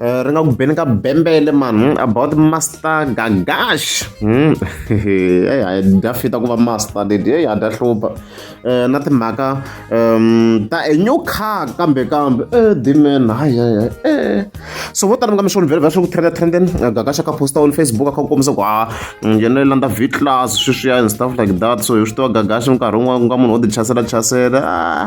Eh, ri nga ku beni ka bembele mani about master gagash hmm. eyi hayi dya fita ku va master leti eyi ha dya hlupha um na timhaka um ta a new car kambe kambe e eh, dimen hayi hayi hayi e so vo tala mi nga mi swona vhele vhela swi ku trenda trenden gagash a ka posta on facebook a kha ku kombisa ku ha ah, mm, yena yi landa v class sweswiya and stuff like that so hi swi tiva gagash minkarhi wun'wana ku nga munhu wo ti chasela chasela ah.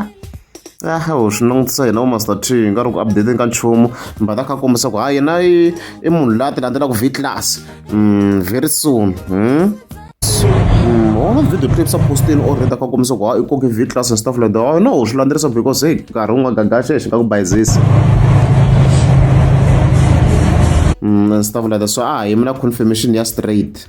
A wu swi langutisa hina vo Master T hi nga ri ku update-eni ka nchumu but a kha a kombisa ku ha yena i i munhu laha ti landzelaka v class mm, very soon hmm? Mm, wona video clips a postini or rita ka kombisa ku ha i koke v class and stuff like that no u swi landzelerisa because hey nkarhi wu nga gagaxe hi xi nga ku bayizisi mm, and stuff like that so a hi mina confirmation ya straight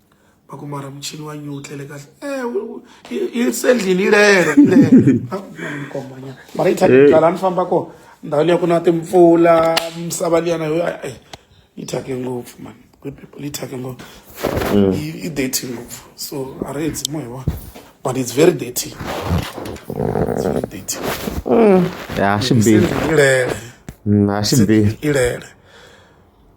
va ku mara muchini wa nyu wu tlele kahle i sendlini yi lele kombanyana mara yi thyakile laha ni famba kona ndhawu liya ku na timpfula misava liyana yo yi thyake ngopfu mani good people yi thyake ngopfu yi dirty ngopfu so a ri edzi mo hi wona but it's very dirty it's very dirty ya swi bihi ilele swi bihi ilele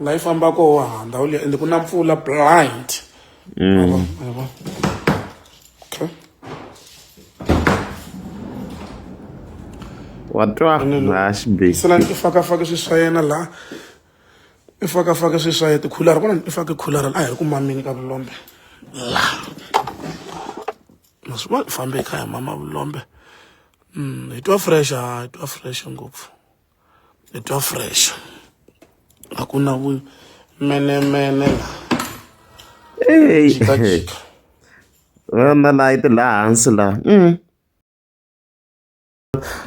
la yi famba koho wa ha ndhawu liya ende ku na mpfula blind mm. okay wa twa laha xibekisela i fakafake swi swa yena laha i fakafake swi swa yena tikhulara vona i fake khulara a hi ri ku mamini ka vulombe laha ma swi vona i fambe kaya mama vulombe mm, hi twa fresh ha hi twa fresh ngopfu hi twa fresh a ku na vumenemene la jikajika na layi ti laha hansi laha mm.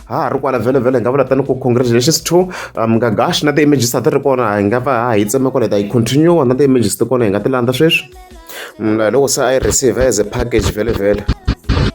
ha ha ri kwala vhele vhele hi nga vula tani ku congratulations to um, nga gash na ti-images a ti ri kona hi nga va ha yi tsema kwala hi ta yi continue na ti-images ti kona hi nga ti landza sweswi mm, loko se a yi receive as a package vhele vhele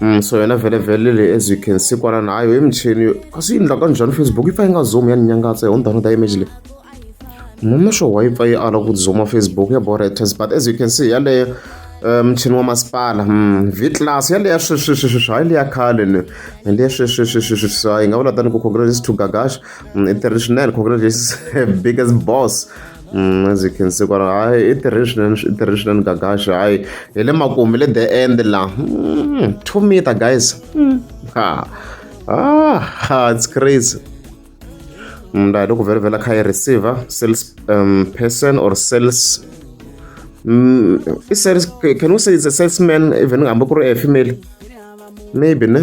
Mm, so yena vhelevhele leyi as you can see kwala nayo i michini yo kasi yi ndla ka njhani facebook yi pfa yi nga zomi ya ni nyangatsa hi undhano ta image leyi mhome swo wa yi pfa yi ala ku zoma facebook ya boretes but as you can see yaleyo eh, mchini wa masipala mm, v class yaleya sweswiswiswiswi hayi leya khale ni leya sweswiswiswiswi hayi nga vula tani ku congratulations to gagash mm, international congratulations biggest boss Mm, as you can see kwala hayi i tirhile swinene i tirhile swinene gagaxa hayi hi le makumu le the end la mm, two meter guys mm. ha ah ha it's crazy mna mm, loko vele vela kha yi receiver sales um, person or sales mm, i sales can we say it's a salesman even ngihambe ku ri a female maybe ne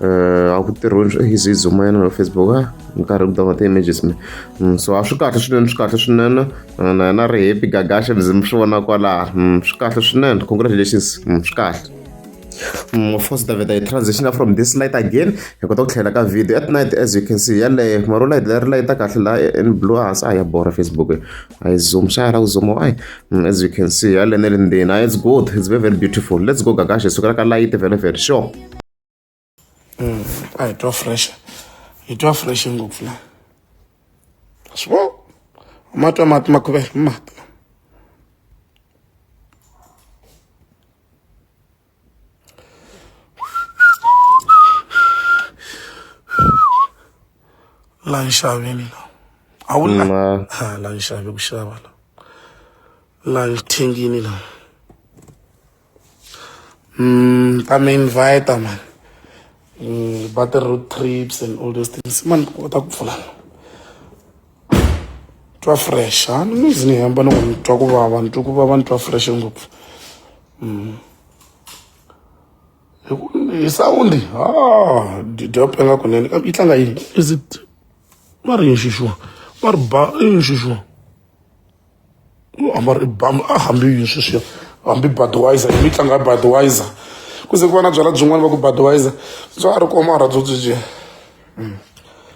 eh, a ku tirhiweni swi easy zoom yena na facebook a ni karhi ku download ti-images me mm, so a swi kahle swinene swi kahle swinene eh, na yena ri happy gagashe mi mi swi vona kwalaha mm, swi kahle swinene congratulations mm, swi kahle of course davida yi transitioner from this light again hi kota ku tlhela ka video at night as you can see yaleyo mara u light leri layita kahle laha in blue hansi a ya bora facebook a yi zoom xa ya la ku zooma ai as you can see yale ne le ndzeni a it's good it's very very beautiful let's go gagashe sukela ka light very very sure Mm, a hi twa fresh hi twa fresh ngopfu la swi vo ma twa mati ma khuvela mati la nxaveni la a wu la la nxavi ku xava la la thengini la Mm, ta mi invite man. Mm, about the road trips and all those things. Man, what up for that? twa fresh a ni ngizi ni hamba ni ku ni twa ku vava ni twa ku vava ni twa fresh ngopfu mm. hi sawundi ha didop nga kunene kambe yi tlanga yini is it va ri yini xixuwa va ri ba i yini xixuwa a va ri bam a hambi yini sweswiya hambi budwiser yi mi tlanga budwiser ku ze ku va na byala byin'wana va ku budwiser bya ha ri komara byo byi byi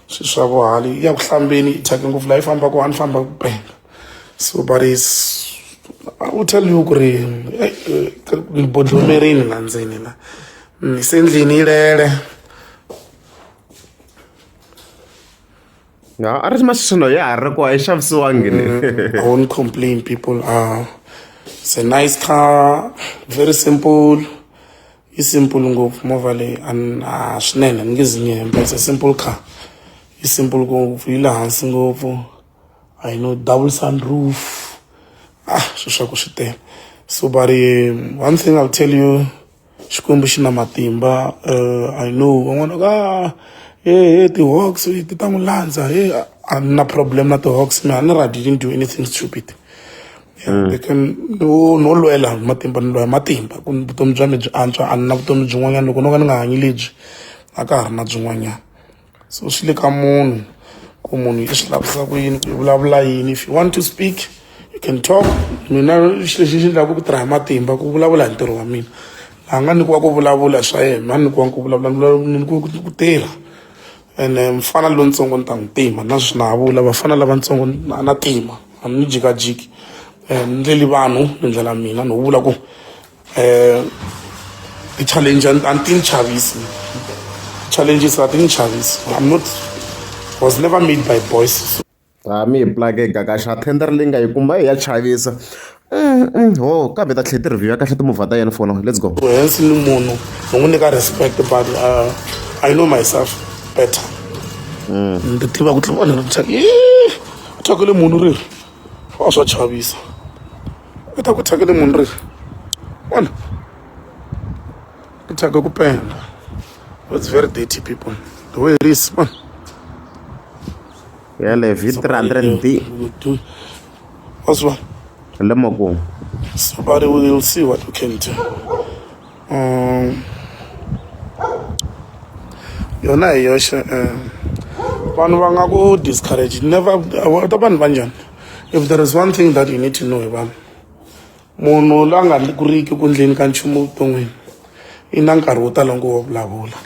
swi swa ku hali ya ku hlambeni yi thyake ngopfu laha yi fambaka a ni famba ku penga so but is i will tell you ku ri ni bodlomerini la ndzeni la ni se ndlini yi lele No, a ri maswino ya ha ri ko a yi xavisiwangi le mm, i won't complain people are ah, it's a nice car very simple yi simple ngopfu movha leyi a ah, swinene ni nge zi ni hemba it's a simple car yi simple ngopfu yi le hansi ngopfu i know double sun roof ah sweswaku swi tele so but um, one thing i'll tell you xikwembu xi na matimba uh, i know van'wana ka ah, he he ti-hawks ti ta n'wi landza he a ni na problem na ti-hawks me a ni ra didn't do anything stupid hmm. they can no no lwela matimba ni lwela matimba ku vutomi bya mi byi antswa a ni na vutomi byin'wanyana loko no ka ni nga hanyi lebyi a ka ha ri na byin'wanyana so swi le ka munhu ku munhu i swi lavisa ku yini ku i vulavula yini if you want to speak you can talk mina xilo lexi xi lavaka ku tirha hi matimba ku vulavula hi ntirho wa mina laha nga nyikiwa ku vulavula swa yena a nyikiwa ku vulavula ni nyikiwa ku tirha ene eh, mfana lontsongo ni ta n'wi tima na swi na vula vafana lavatsongo a na tima a ni jikajiki um eh, ni ndleli vanhu ni ndlela mina ni vula ku Eh, ti-challenge a ni ti ni chavisi challenges a ti ni chavisi i'm not was never made by boys ha mi hi plake gagaxa tender leyi nga yi kuma hi ya chavisa mm, mm, ho kambe ta tlhe ti-review ya kahle timovha ta yena fona let's go hensi ni munhu ni n'wi nyika respect but uh, i know myself better mm. ni tiva ku tlhela vanhu va thyakile munhu ri a swa chavisa u ta ku thyakele munhu ri vona ku thyaka ku penda it's very dirty people the way it is vona ya le vit 300 d waswa le moko somebody will see what you can do um yona hi yoxe um vanhu va nga ku discourage never ta vanhu va njhani if there is one thing that you need to know hi vanhu munhu la nga kuriki ku ndleni ka nchumu evuton'wini i na nkarhi wo tala ngo wa vulavula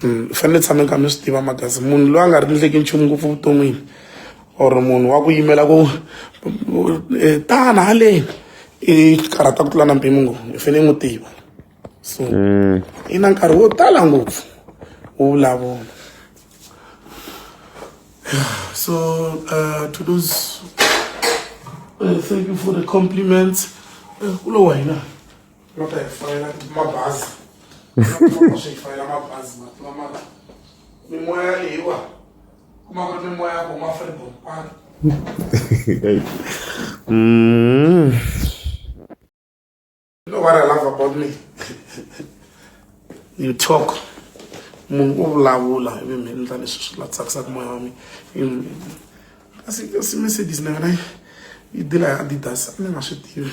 mm, ni fanele tshame kha mi swi tiva makazi munhu loyi a nga rindleki nchumu ngopfu vuton'wini or munhu wa ku yimela ku e, tana haleni i karhata ku tlula na mpimo ngo i fanele n'wi tiva so mm. i na nkarhi wo tala ngopfu wo vulavula so uh, to those uh, thank you for the compliments uh, kulo wa hina no ta hi fayela mabazi swi hi fayela mabazi matima mara mimoya leyiwa kuma ku ri mimoya ya ku ma freedom kwani mm. you know what i love about me you talk munhu u vulavula ivi mi endla leswi swi la tsakisaka moya wa mi kasi kasi mercedes na yona yi dila ya adidas a ni nga swi tivi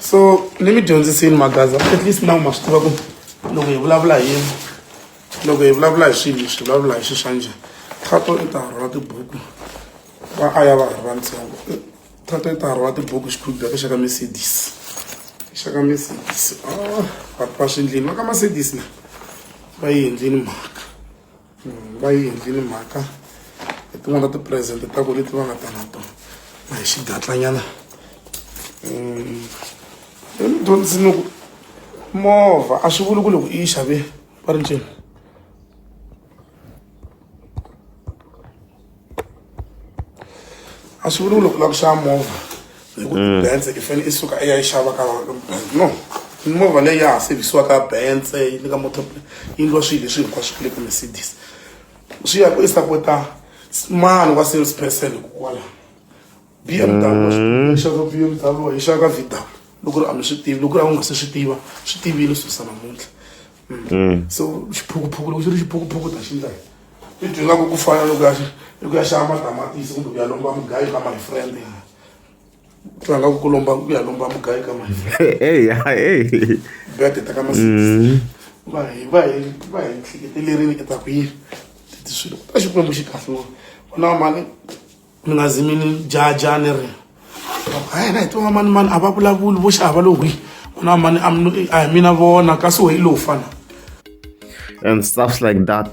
so ni mi dyondzisini magaza at least na ma swi tiva ku loko hi vulavula hi yini loko hi vulavula hi swilo swi vulavula hi xi xa njhani thato i ta rhwala tibuku va a ya va ha ri vantsongo thato i ta rhwala tibuku xikhubya ka xaka mercedes xaka mercedes ah, vanhu va swi endlini va ka mercedes na va yi endlini mhaka va yi endlile mhaka hi tin'wana ta tipresente ta ku leti va nga ta na tona na hi xigatlanyana um hi ni dyondzisini ku movha a swi vuli ku loko i yi xave va ri ncini a swi vuli ku loko u lava ku xava movha hi ku mm. bense i fanele i suka i ya yi xava ka no mimovha leyi ya ha sevhisiwa ka bense yi le ka motor yi ndliwa swilo leswi hinkwaswo ku le ka mercedes swi ya ku i sapota mani wa sales person hikokwalaho b m w mm. xava b m w yi xava ka v w loko ri a mi swi tivi loko ri a wu nga se swi tiva swi tivile swi sa namuntlha mm. mm. so xiphukuphuku loko xi ri xiphukuphuku ta xi ndlela i dwi nga ku ku fana loko ya i ku ya xava matamatisi kumbe ku ya lomba mugayo ka my friend ya twa nga ku ku lomba ku ya lomba mugayo ka my friend hey hey bet ta ka masiku mm. va hi va hi va hi nhliketelerini ke ta ku yi ti swilo ta xikwembu xi kahle wona mali mina zi mi ni jaja ni ri hayi na hi twa mani mani a va vulavuli vo xava lo hwi na mani a hi mina vona kasi wehi lowu fana and stuffs like that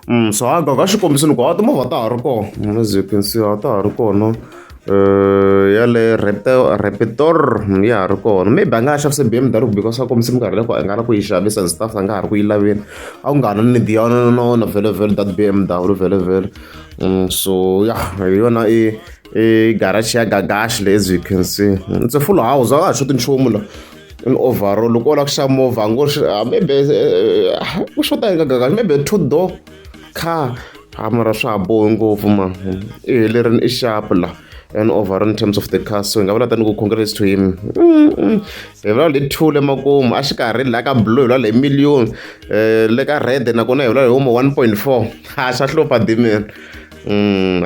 mm, so haga ka xikombiso ni ku a timovha ta ha ri kona as you can see a ta ha ri kona yaleyo Rapetor ya ha ri kona maybe a nga ha xavisa B_M_W because a kombisa minkarhi leyi ku a nga ri ku yi xavisa and stuff a nga ha ri ku yi laveni a ku nga ha na need ya yona na wona vhele vhele that B_M_W vhele vhele so ya hi yona i i garage ya Gagash leyi as you can see it's a full house a nga ha xoti nchumu la in overall loko wo lava ku xava movha a ngo maybe ku xota yini ka Gagash maybe two door. kha ha mara swa ha bohi ngopfu ma i helerini i xapu la and over in terms of the car so hi nga vula tani ku congrats to him hi vula le two le makumu a xikarhi la ka blue hi vula le million um le ka red nakona hi vula hi huma one point four ha xa hlupha dimen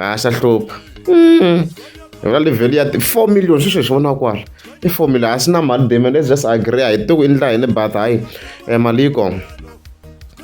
ha xa hlupha hi vula le value ya four million swi swi hi swi vona kwala i four million a swi na mali dimen let's just agree a hi tiku i ndla yini but hayi um mali yi kona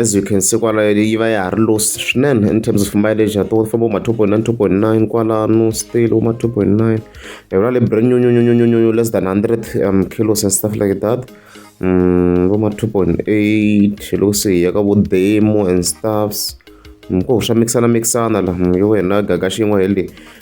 as you can see kwalayo yi va ya ha ri low swinene in terms of mileage ya tona famba uma two point nine two point nine kwalano still uma two point nine yona le brand new new new new new less than hundred um, kilos and stuff like that um, voma two point eight loko se hi ya ka vo demo and stuffs ko swa mixana mixana la yo wena gaga xin'we hi le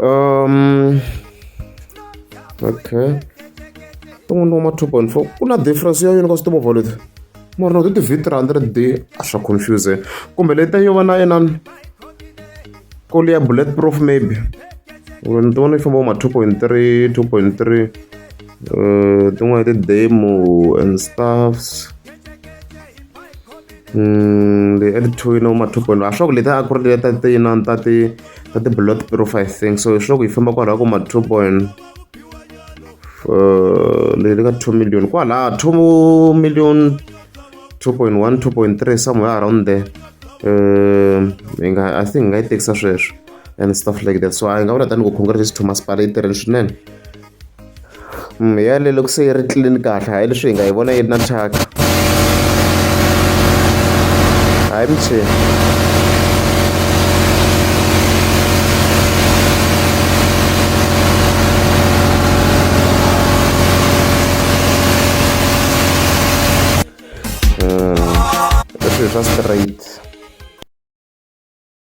um okay tin'wana ni wama two point four ku na difference ya yini ka timovha leti mara no ti ti-v three hundred d a swa confusing kumbe leta yo va na inani koli ya bullet proof maybe ni ti vona yi famba ma two point three two point three um tin'wana ti-demo and stuffs Mm, the early two you know ma 2.1 a swa ku leti a ku ri leta ti yinani ta ti ta ti blood purify thing so hi swa ku yi famba kwalaho ku ma 2 point uh, leyi ka 2 million kwalaha 2 million 2.1 2.3 somewhere around there um hi nga i think hi nga yi tekisa sweswo and stuff like that so a hi nga vula tanihi ku congress to masipala yi tirheni swinene yaleyo loko se yi ri clean kahle hayi leswi hi nga yi vona yi ri na thyaka hayi michini hmm. leswi hi swa straight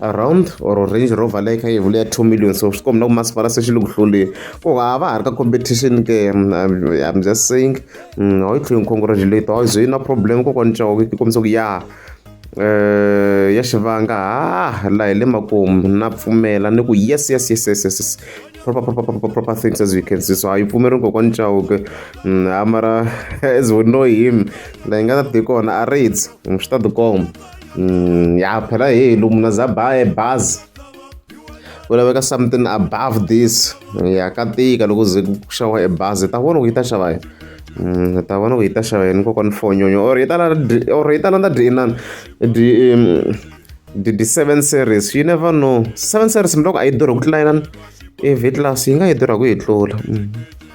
around or range rover leyi kha yi vula ya two million so swi kombi na ku masipala se xi le ku hluleni ku a va ha ri ka competition ke mm, i'm just saying mm, a yi tlheli ni congratulate a ze yi na problem kokwani cawo yi kombisa ku ya um ya xivanga ha laha hi le makumu na pfumela ni ku yes yes yes yes yes proper proper proper proper things as we can see so a yi pfumeri kokwani cawo ke mm, a mara as we know him laha yi nga ta ti kona a raids swi ta tikomba mm, ya phela heyi lomu na za baye bazi ku laveka something above this ya ka tika loko ze ku xava e bazi ta vona ku yi ta xava yini mm, ta vona ku yi ta xava yini kokwana fonyonyo or yi tala or yi tala na dyi inani dyi the, the seven series you never know seven series mhloko a yi durhi ku tlula inani i v class yi nga yi durha ku yi tlula mm.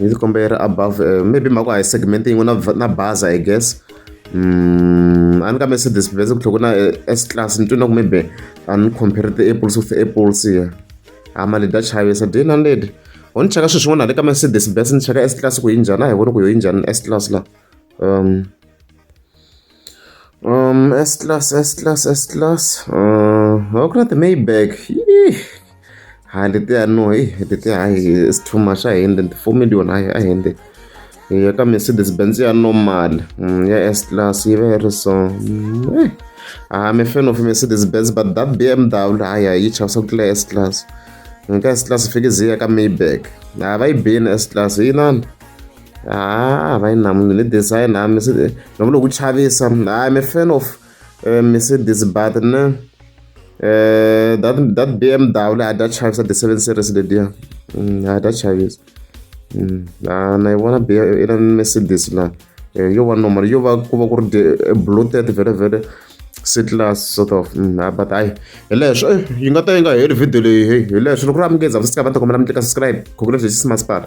Ni ndzi kombela above maybe mhaka a hi segment yin'we na na baza I guess mm, a ni ka Mercedes Benz ku tlhoko na S class ni twi na ku maybe a ni compare ti-apples with apples ya a mali da chavisa day na lady ho ni cheka swilo swin'wana le ka Mercedes Benz ni cheka S class ku yi njhani a hi voni ku yo yi njhani S class la um Um, S-Class, S-Class, S-Class. Uh, how can I Maybach? Hayi letiya no, hey, letiya hayi it's too much ahende nti 4 million hayi ahende. Ya ka Mercedes Benz ya normal, mm, ya S-Class yi va yi ri so. Mm, eh. Ah, I'm a fan of Mercedes Benz but that BMW hayi hayi yi chavisa ku tlula S-Class. Nka S-Class fike zi ya ka Maybach. Hayi va yi bini S-Class yi nani? ha va yi na munhu ni design ha mi se ni vula ku chavisa hayi mi fan of eh, mercedes but ne eh, that that bmw leyi a dya chavisa the seven series lediya mm, a dya chavisa mm, na yi vona ina mercedes laha eh, yo va normal yo va ku va ku ri bloated vele vele setlas sort of mm, ah, but hayi hi leswo yi nga ta yi nga heli video leyi hi leswo loko ri amukeza va sika va ta kombela mi tleka subscribe khokhu leswi hi xisimasipala